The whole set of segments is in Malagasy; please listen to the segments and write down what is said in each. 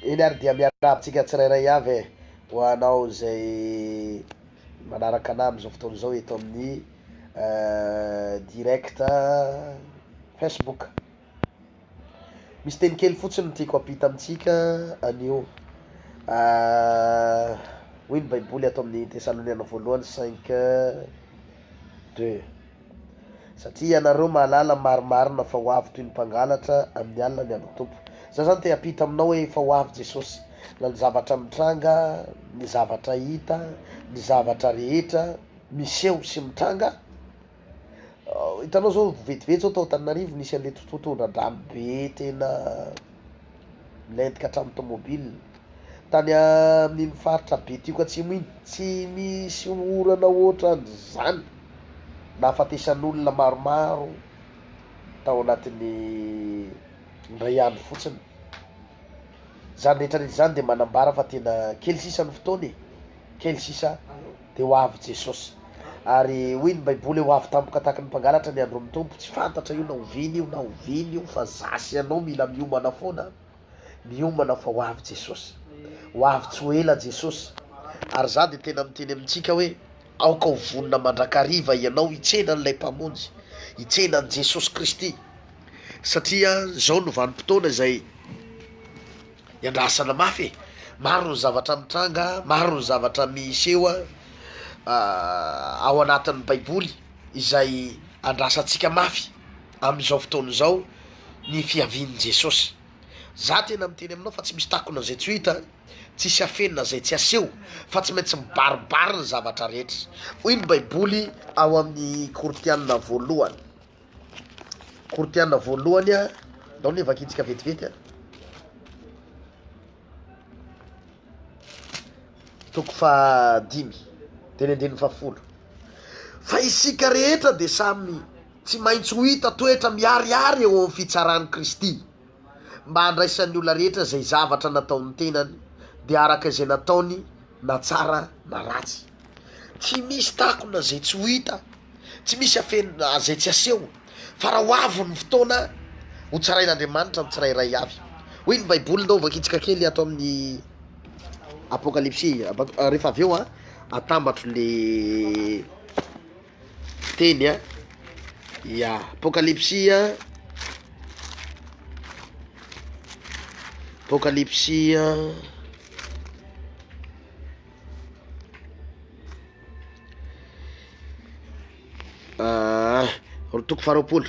Eny ary dia miarahaba antsika tsirairay avy e! ho anao izay manaraka anah amin'izao fotoana izao eto amin'ny direct Facebook. Misy teny kely fotsiny no tiako hampita amintsika anio. Hoy ny Baiboly ato amin'ny Tesaloniana voalohany cinq deux. Satria ianareo mahalala marimarina fa ho avy toy ny mpangalatra amin'ny alina ny andro Tompo. Za zany te hampita aminao hoe efa ho avy Jesosy, na ny zavatra mitranga, ny zavatra hita, ny zavatra rehetra miseho sy mitranga, hitanao zao vetivety zao tao Antananarivo nisy an'le totototondra-drano be tena. Milentika hatramin'ny tomobil. Tany amin'iny faritra Betioka Atsimo iny, tsy nisy orana hoatran'izany nahafatesan'olona maromaro tao anatin'ny indray andro fotsiny. Izany rehetra rehetra izany dia manambara fa tena kely sisa ny fotoana e! Kely sisa dia ho avy Jesosy. Ary hoy ny Baiboly, Ho avy tampoka tahaky ny mpangalatra ny andron'ny Tompo. Tsy fantatra io na oviana io na oviana io fa za sy ianao mila miomana foana, miomana fa ho avy Jesosy. Ho avy tsy ho ela Jesosy. Ary za dia tena miteny amintsika hoe, aoka ho vonona mandrakariva ianao hitsena an'ilay Mpamonjy, hitsena an'i Jesosy Kristy. Satria izao no vanim-potoana izay. Iandrasana mafy e! Maro ny zavatra mitranga, maro ny zavatra miseho a ao anatin'ny baiboly izay andrasantsika mafy amin'izao fotoana izao ny fiavian'i Jesosy. Za tena miteny aminao fa tsy misy takona zay tsy ho hita, tsisy afenina zay tsy aseho fa tsy maintsy mibaribary ny zavatra rehetra. Hoy ny baiboly ao amin'ny Korintianina voalohany. Korintiana voalohany a. Ndao anie vakintsika vetivety a. Toko fahadimy, teny andininy fahafolo. Fa isika rehetra dia samy tsy maintsy ho hita toetra miharihary eo amin'ny fitsaran'i Kristy, mba handraisan'ny olona rehetra izay zavatra nataon'ny tenany, dia araka izay nataony na tsara na ratsy. Tsy misy takona zay tsy ho hita, tsy misy afenina zay tsy haseho, fa raha ho avy ny fotoana, ho tsarain'Andriamanitra ny tsirairay avy. Hoy ny baiboly, ndao vakintsika kely ato amin'ny apokalypsy rehefa avy eo atambatro le teny a, ya apokalypsy a, apokalypsy a. Ah, roa toko faharoapolo.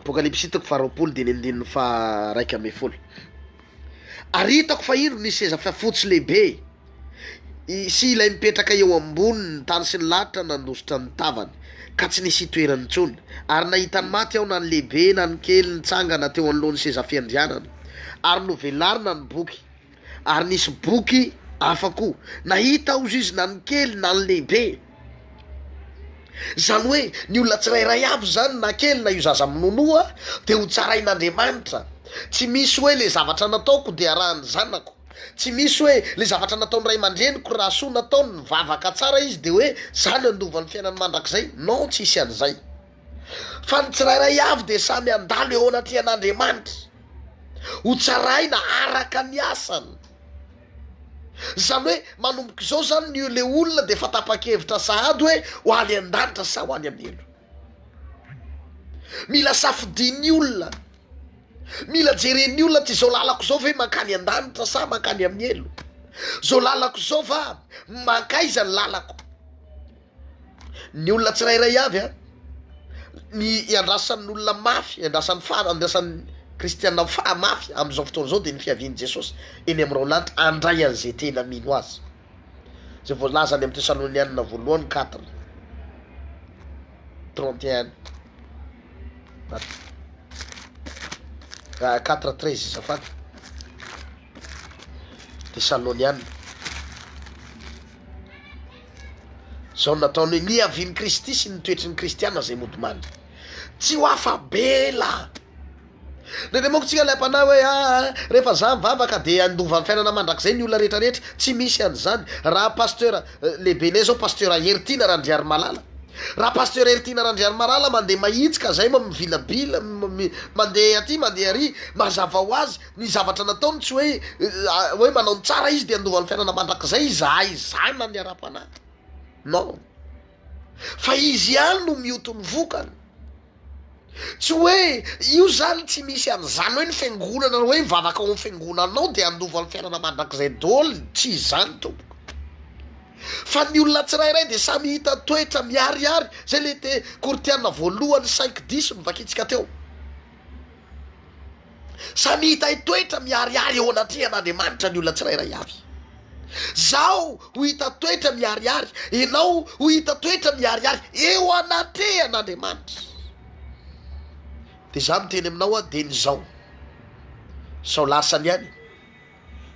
Apokalypsy toko faharoapolo dia ny andininy faha raika ambin'ny folo. Ary hitako fa indro ny seza fiafotsy lehibe. sy ilay mipetraka eo ambony ny tany sy ny lanitra nandositra ny tavany ka tsy nisy itoerany intsony, ary nahita ny maty ao na ny lehibe na ny kely nitsangana teo anoloan'ny seza fiandrianana, ary novelarina ny boky, ary nisy boky hafa koa nahita aoz izy na ny kely na ny lehibe, izany hoe ny olona tsirairay avy izany na kely na io zaza minonoa dia ho tsarain'Andriamanitra, tsy misy hoe le zavatra nataoko dia arahan'ny zanako. Tsy misy hoe le zavatra nataony ray aman-dreniko raha soa nataony, nivavaka tsara izy de hoe zany handova ny fiainany mandrakizay, non tsisy an'izay. Fa ny tsirairay avy de samy handalo eo anatrehan'Andriamanitra, ho tsaraina araka ny asany. Zany hoe manomboka izao zany ny le olona de efa tapa-kevitra sahady hoe ho any an-danitra sa ho any amin'ny helo. Mila safidin'ny olona. Mila jeren'ny olona tsy izao lalako izao ve mankany an-danitra sa mankany amin'ny helo? Izao lalako izao va mankaiza ny lalako? Ny olona tsirairay avy a, ny iandrasan'ny olona mafy, iandrasan'ny fara, iandrasan'ny kristiana fara mafy amin'izao fotoana izao dia ny fiavian'i Jesosy eny amin'ny raolanitra handray an'izay tena mino azy. izay voalaza any amin'ny Tesalonianina voalohany quatre, trente et un ah, quatre treize zafady, Tesalonianina. Izao nataony hoe niavian'i Kristy sy ny toetry ny Kristiana izay mody mandry. Tsy ho afa-bela. Nendreo manko tsika ilay mpanahy hoe aa rehefa za mivavaka de handova ny fiainana mandrakizay ny olona rehetra rehetra, tsy misy an'izany, raha pasteur lehibenay zao pasteur Heritiana Randriarimalala, raha pasteur Heritiana Randriarimalala mandeha mahitsika zay mivilabila mandeha aty mandeha ary, mazava ho azy ny zavatra nataony tsy hoe hoe manao ny tsara izy de handova ny fiainana mandrakizay izahay zanany ara-panahy non, fa izy ihany no mioty ny vokany. Tsy hoe io zany tsy misy an'izany hoe ny fiangonana hoe mivavaka ao amin'ny fiangonanao dia handova ny fiainana mandrakizay doly, tsy izany tompoko. Fa ny olona tsirairay dia samy hita toetra miharihary, zay le te Kortiana voalohany cinq dix novakintsika teo. Samy hitahy toetra miharihary eo anatrehan' Andriamanitra ny olona tsirairay avy. Izaho ho hita toetra miharihary, ianao ho hita toetra miharihary eo anatrehan' Andriamanitra. Dia izaho miteny aminao aho dieny izao, sao lasa ny any.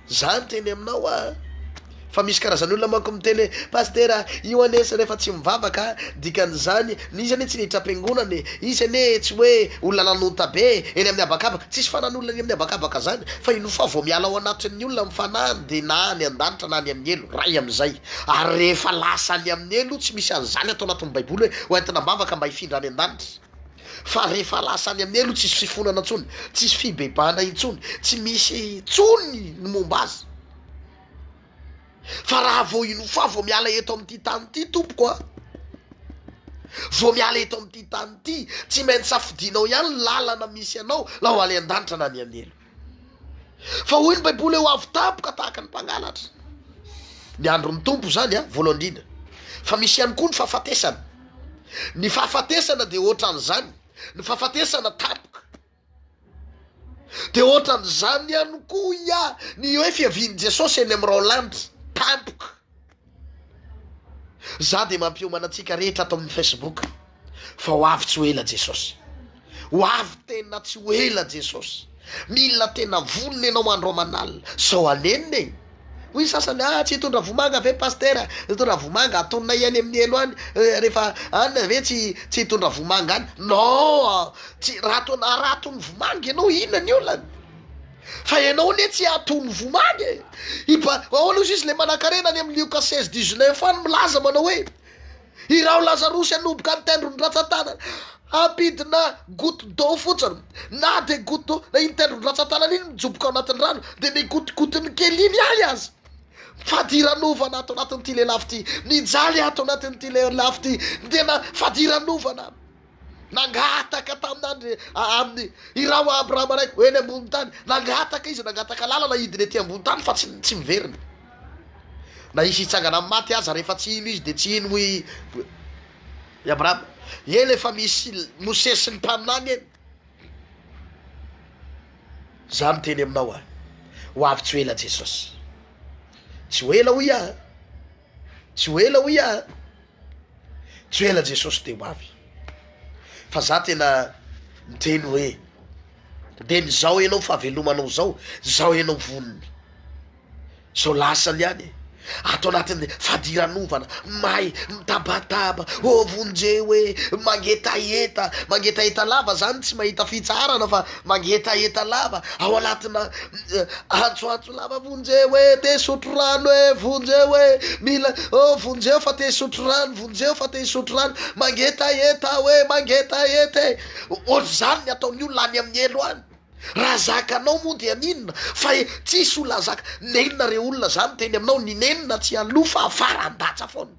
Za niteny aminao a! Fa misy karazany olona manko miteny hoe Pasitera io anie sy rehefa tsy mivavaka a! Dikan'izany, ny izy anie tsy niditra am-piangonana e! Izy anie tsy hoe olona nanonta be e! Eny amin'ny habakabaka, tsisy fanan'olona eny amin'ny habakabaka zany fa i Nofà vao miala ao anatin'ny olona ny fanahiny dia na any an-danitra na any amin'ny helo, ray amin'izay. Ary rehefa lasa any amin'ny helo tsy misy an'izany ato anatin'ny baiboly hoe hoentina am-bavaka mba hifindra any an-danitra. fa rehefa lasa any amin'ny elo tsisy fifonana tsony, tsisy fibebahana intsony, tsy misy tsony ny momba azy, fa raha vao inofa vao miala eto amin'ity tany ity tompoko a, vao miala eto amin'ity tany ity, tsy maintsy safidinao ihany ny lalana misy anao na ho any an-danitra na any an'elo. Fa hoy ny baiboly ho avy tampoka tahaka ny mpangalatra ny andron'ny Tompo izany a, voalohany indrindra, fa misy ihany koa ny fahafatesana, ny fahafatesana dia ohatran'izany, ny fahafatesana tampoka dia ohatran'izany ihany koa ia ny hoe fiavian'i Jesosy eny amin'ny rao lanitra tampoka. Za dia mampiomana antsika rehetra ato amin'ny Facebook fa ho avy tsy ho ela Jesosy. Ho avy tena tsy ho ela Jesosy. Mila tena vonona ianao andro aman'alina sao hanenina e! Hoy ny sasany, ah tsy hitondra vomanga ve Pasitera? Hitondra vomanga, atononay any amin'ny helo any, eh, rehefa any ve tsy tsy hitondra vomanga any? Non! Tsy raha toa raha atony vomanga ianao inona ny olana? Fa ianao anie tsy hatony vomany e! I ba, ahoana ozy izy ilay manankarena any amin'ny Lioka seize dix neuf any milaza manao hoe, I Raho Lazarosy hanomboka ny tendro ny ratsan-tanana, hampidina goutte d'eau fotsiny, na dia goutte d'eau, na iny tendro ny ratsan-tanana iny mijoboka ao anatin'ny rano, dia ny gotigotin'ny kely iny ahy aza. Fadiranovana ato anatin'ity lelafo ity, mijaly ato anatin'ity lelafo ity ny tena fadiranovana. Nangataka tamin'Andri amin'ny Iraho Abrahama Raiko ho eny ambony tany. Nangataka izy, nangataka lalana hidina ety ambony tany fa tsy tsy miverina. Na hisy hitsangana amin'ny maty aza rehefa tsy hino izy dia tsy hino hoy i Abrahama. Eny efa misy Mosesy sy ny mpaminany eny. Za miteny aminao aho, ho avy tsy ho ela Jesosy. Tsy ho ela hoy aho. Tsy ho ela hoy aho a! Tsy ho ela Jesosy dia ho avy. Fa za tena miteny hoe dia mizao enao fahavelomanao zao, zao enao vonony, zao lasany ihany e! Ato anatin'ny fadiranovana, may, mitabataba, ô vonjeo hoe mangetaheta, mangetaheta lava zany tsy mahita fitsaharana fa mangetaheta lava ao anatina antso antso. Mpilalao vonjeo e, te hisotro rano e, vonjeo e, mila oh, vonjeo fa te hisotro rano, vonjeo fa te hisotro rano, mangetaheta aho e, mangetaheta e. Ohatr'izany ny ataon'ny olona any amin'ny helo any. Raha zakanao moa dia n'inona fa e, tsisy olona zaka. Nenina re olona zany teny aminao, ny nenina tsy aloha fa afara, andatsa foana.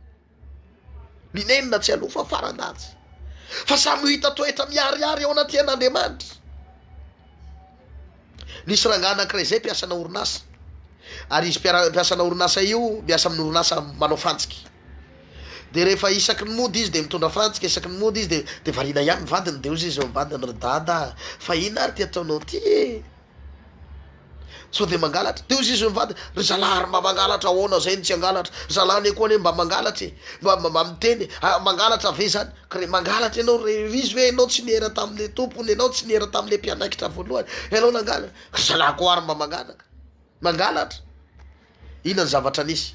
Ny nenina tsy aloha fa faran-danja. Fa samy ho hita toetra miharihary eo anatrehan'Andriamanitra. Nisy rangahy anankiray izay mpiasana orinasa, ary izy mpiasana orinasa io miasa amin'ny orinasa manao fantsika. Dia rehefa isaky ny mody izy dia mitondra fantsika, isaky ny mody izy dia variana ihany ny vadiny, dia hoy izy eo ambadiny, ry Dada a, fa inona ary ity ataonao ity e? Sao dia mangalatra? Dia hoy izy mivantana, ry zalahy ary mba mangalatra ahoana izay no tsy hangalatra? Ry zalahy anie koa anie mba mangalatra e! Mba mba miteny e! Ah, mangalatra ve izany? Ka re, mangalatra ianao re, ry izy ve ianao tsy niera tamin'ilay tompony, ianao tsy niera tamin'ilay mpianaikitra voalohany, ianao nangalatra? Ry zalahy koa ary mba mangalatra, mangalatra? Inona ny zavatra nisy?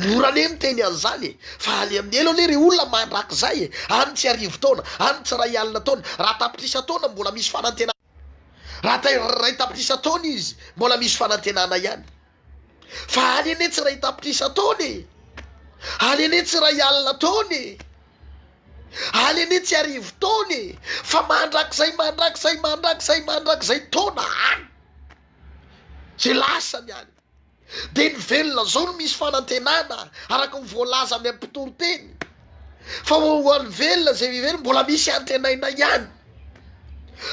Mora anie ny teny an'izany e! Fa any amin'ny elo anie ry olona mandrakizay e! Any tsy arivo taona, any tsy iray alina taona, raha tapitrisa taona mbola misy fanantenana ihany. Raha atao iray tapitrisa taona izy, mbola misy fanantenana ihany. Fa any anie tsy iray tapitrisa taona e! Any anie tsy iray alina taona e! Any anie tsy arivo taona e! Fa mandrakizay, mandrakizay, mandrakizay, mandrakizay taona any! Izay lasany any! Dia ny velona izao no misy fanantenana araka ny voalaza amin'ny mpitory teny. Fa ho an'ny velona izay miverina mbola misy antenaina ihany.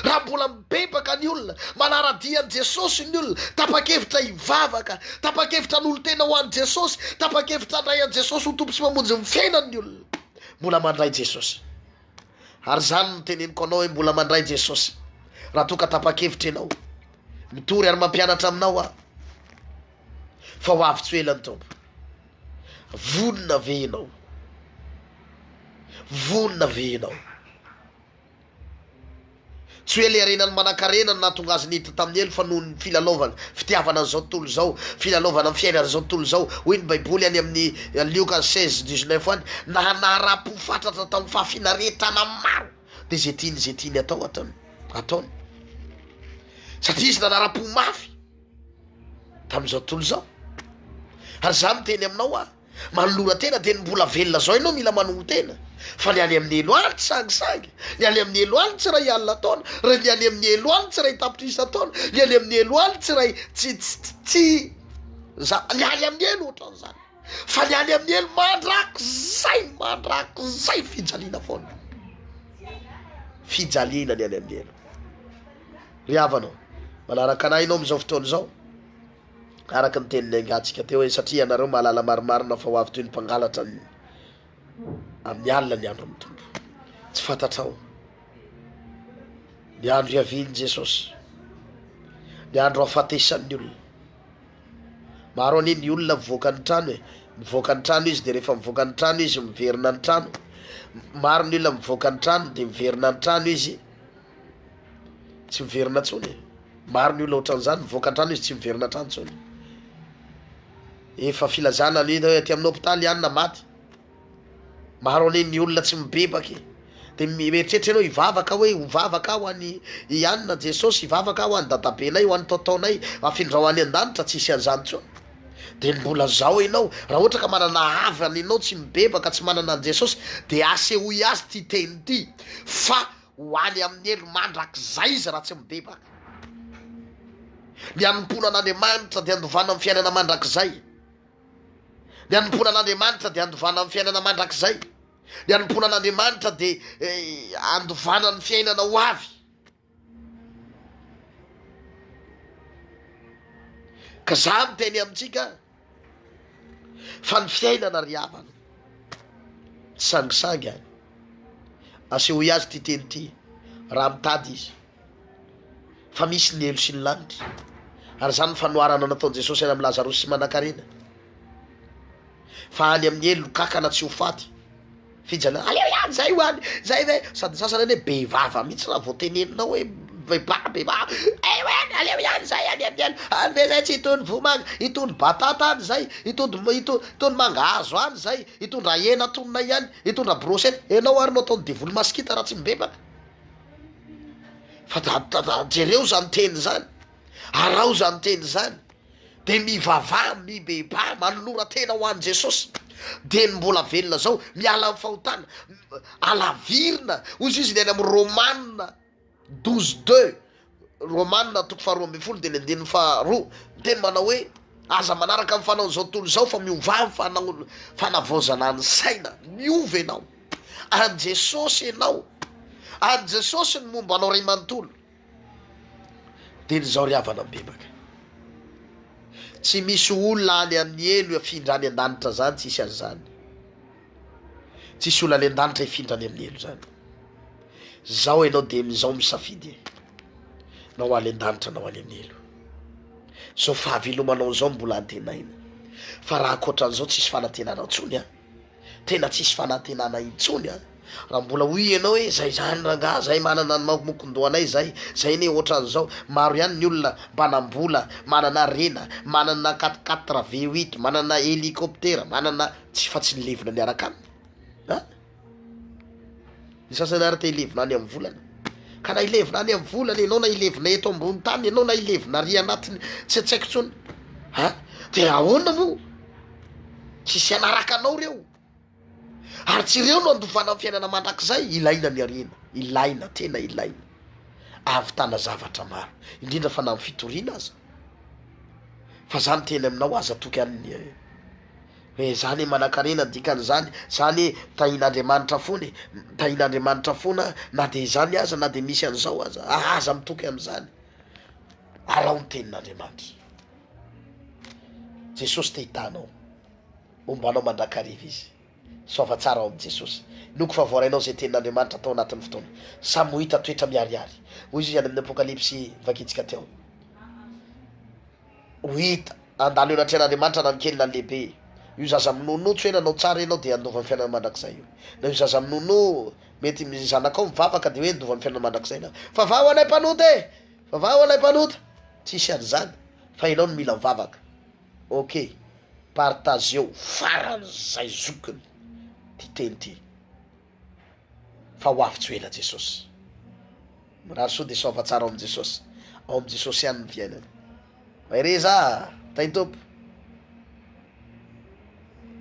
Raha mbola mibebaka ny olona, manara-dia an'i Jesosy ny olona, tapa-kevitra hivavaka, tapa-kevitra hanolo-tena ho an'i Jesosy, tapa-kevitra handray an'i Jesosy ho Tompo sy Mpamonjy ny fiainany ny olona, mbola mandray Jesosy. Ary izany no teneniko anao hoe mbola mandray Jesosy raha toa ka tapa-kevitra ianao. Mitory ary mampianatra aminao aho fa ho avy tsy ho ela ny Tompo. Vonona ve ianao? Vonona ve ianao? Tsy hoe ilay renany manankarena no nahatonga azy niditra tamin'ny helo fa noho ny filalaovany fitiavana an'izao tontolo izao, filalaovana ny fiainana izao tontolo izao. Hoy ny Baiboly any amin'ny Lioka seize dix neuf any, Naha naharam-po fatratra tamin'ny fahafinaretana maro, dia izay tiany izay tiany hatao ataony, ataony. Satria izy nanaram-po mafy tamin'izao tontolo izao. Ary izaho miteny aminao aho. Manolora tena dia ny mbola velona zao ianao mila manoho tena fa ny any amin'ny helo aly tsy sangisangy, ny any amin'ny helo aly tsy ray alina taona, ry ny any amin'ny helo aly tsy ray tapitrisa taona, ny any amin'ny helo aly tsy ray tsy tsy za ny any amin'ny helo ohatran'izany fa ny any amin'ny helo mandrakizay mandrakizay fijaliana foana fijaliana ny any amin'ny helo ry havanao manaraka anay ianao amin'izao fotoana izao araka ny tenin'ny engantsika teo hoe, satria ianareo mahalala marimarina fa ho avy toy ny mpangalatra ny amin'ny alina ny andron'ny Tompo. Tsy fantatrao ny andro hiavian'i Jesosy, ny andro hafatesan'ny olona. Maro anie ny olona mivoaka ny trano e, mivoaka ny trano izy dia rehefa mivoaka ny trano izy miverina ny trano, maro ny olona mivoaka ny trano dia miverina ny trano izy. Tsy miverina intsony e. Maro ny olona ohatran'izany, mivoaka an-trano izy tsy miverina an-trano intsony. Efa filazana ny hoe aty amin'ny hôpitaly ihany na maty. Maro anie ny olona tsy mibebaka e. Dia mieritreritra ianao hivavaka hoe ho vavaka aho any i Anina, Jesosy, hivavaka aho ho an'i dadabenay, ho an'i taotaonay, afindrao any an-danitra, tsy hisy an'izany intsony. Dia mbola zao ianao, raha ohatra ka manana havana ianao tsy mibebaka, tsy manana an'i Jesosy, dia asehoy azy ity teny ity fa Ho any amin'ny helo mandrakizay izy raha tsy mibebaka. Ny hanompoana an'Andriamanitra dia handovana amin'ny fiainana mandrakizay. Ny hanompoana an'Andriamanitra dia handovana amin'ny fiainana mandrakizay. Ny hanompoana an'Andriamanitra dia eh, handovana ny fiainana ho avy. Ka za miteny amintsika Fa ny fiainana ry havana, tsy sangisangy any. Asehoy azy ity teny ity raha mitady izy fa misy ny helo sy ny lanitra. Ary izany ny fanoharana nataon'i Jesosy any amin'i Lazarosy sy Manankarena fa any amin'ny helo ny kankana tsy ho faty. Fijaliana, aleo ihany zay ho any, zay ve, sady ny sasany any hoe be vava mihitsy raha vao teneninao hoe bebaha bebaha, eh ho any, aleo ihany zay any any any, any ve zay tsy itony vomanga, itony batata any zay, itony itony mangahazo any zay, itony raha hena atononay any, itony raha brochette, enao ary no ataony devoly masikita raha tsy mibebaka, fa jereo zany teny zany, araho zany teny zany. dia mivavaha, mibebaha, manolora-tena ho an'i Jesosy, dia ny mbola velona zao miala amin'ny fahotana, alavirina, hoy izy izy ny any amin'ny Romana douze deux, Romana toko faharoa ambin'ny folo dia ny andininy faharoa, ny teny manao hoe aza manaraka ny fanaon'izao tontolo izao fa miovà ny fanaon- fanavaozana ny saina, miova ianao, an'i Jesosy ianao, an'i Jesosy ny momba anao ray manontolo. Dia ny zao ry havana mibebaka. Tsy misy olona any amin'ny helo hafindra any an-danitra zany tsisy an'izany. Tsisy olona any an-danitra hifindra any amin'ny helo zany. Zao enao dia mizao misafidy e. Na ho any an-danitra na ho any amin'ny helo. Zao fahavelomanao zao mbola antenaina. Fa raha ankoatra an'izao tsisy fanantenana intsony an. tena tsisy fanantenana intsony a! raha mbola hoy ianao hoe zay zany rangaha zay manana ny mamokondohanay zay, zay anie ohatran'izao, maro ihany ny olona mpanam-bola, manana harena, manana quatre quatre, V huit, manana helicoptera, manana, tsy fa tsy ny levona miaraka aminy an! Ny sasany ary te hilevina any amin'ny volana. Ka na hilevina any amin'ny volana ianao, na hilevina eto ambony tany ianao, na hilevina ary anatiny tsy tsaiko intsony, a dia ahoana moa? Tsy hisy hanaraka anao ireo. Ary tsy ireo no handovana ny fiainana mandrakizay. Ilaina ny harena, ilaina, tena ilaina. Ahavitana zavatra maro, indrindra fa na amin'ny fitoriana aza. Fa za miteny aminao, aza atoky an'ny Eh zany e manakarena dikany zany zany e tahin'Andriamanitra fona e tahin'Andriamanitra fona na de zany aza na de misy an'zao aza ah aza mitoky am'zany araho ny tenin'Andriamanitra Jesosy te hitaha anao homba anao mandrakariva izy soava tsara ao amin'i Jesosy noko fa voarainao zay tenin'Andriamanitra tao anatin'ny fotoana samy ho hita toetra miharihary hoy izy any amin'ny apokalypsy vakintsika teo ho hita handalo eo anatrehan'Andriamanitra na ny kely na ny lehibe io zaza minonotsy hoe nanao tsara ianao dia handova ny fiainana mandrakizay io na io zaza minono mety ny zanakao mivavaka dia hoe handova ny fiainana mandrakizay na vavaha ho anay mpanota e vavaha ho anay mpanota tsisy an'izany fa ianao no mila mivavaka ok partageo faran'izay zokiny ty teny ty fa ho avy tsy ho ela Jesosy. Mirary soa dia saova tsara ao amin'i Jesosy. Ao amin'i Jesosy ihany ny fiainana. Mahereza ah, Tain-tompo.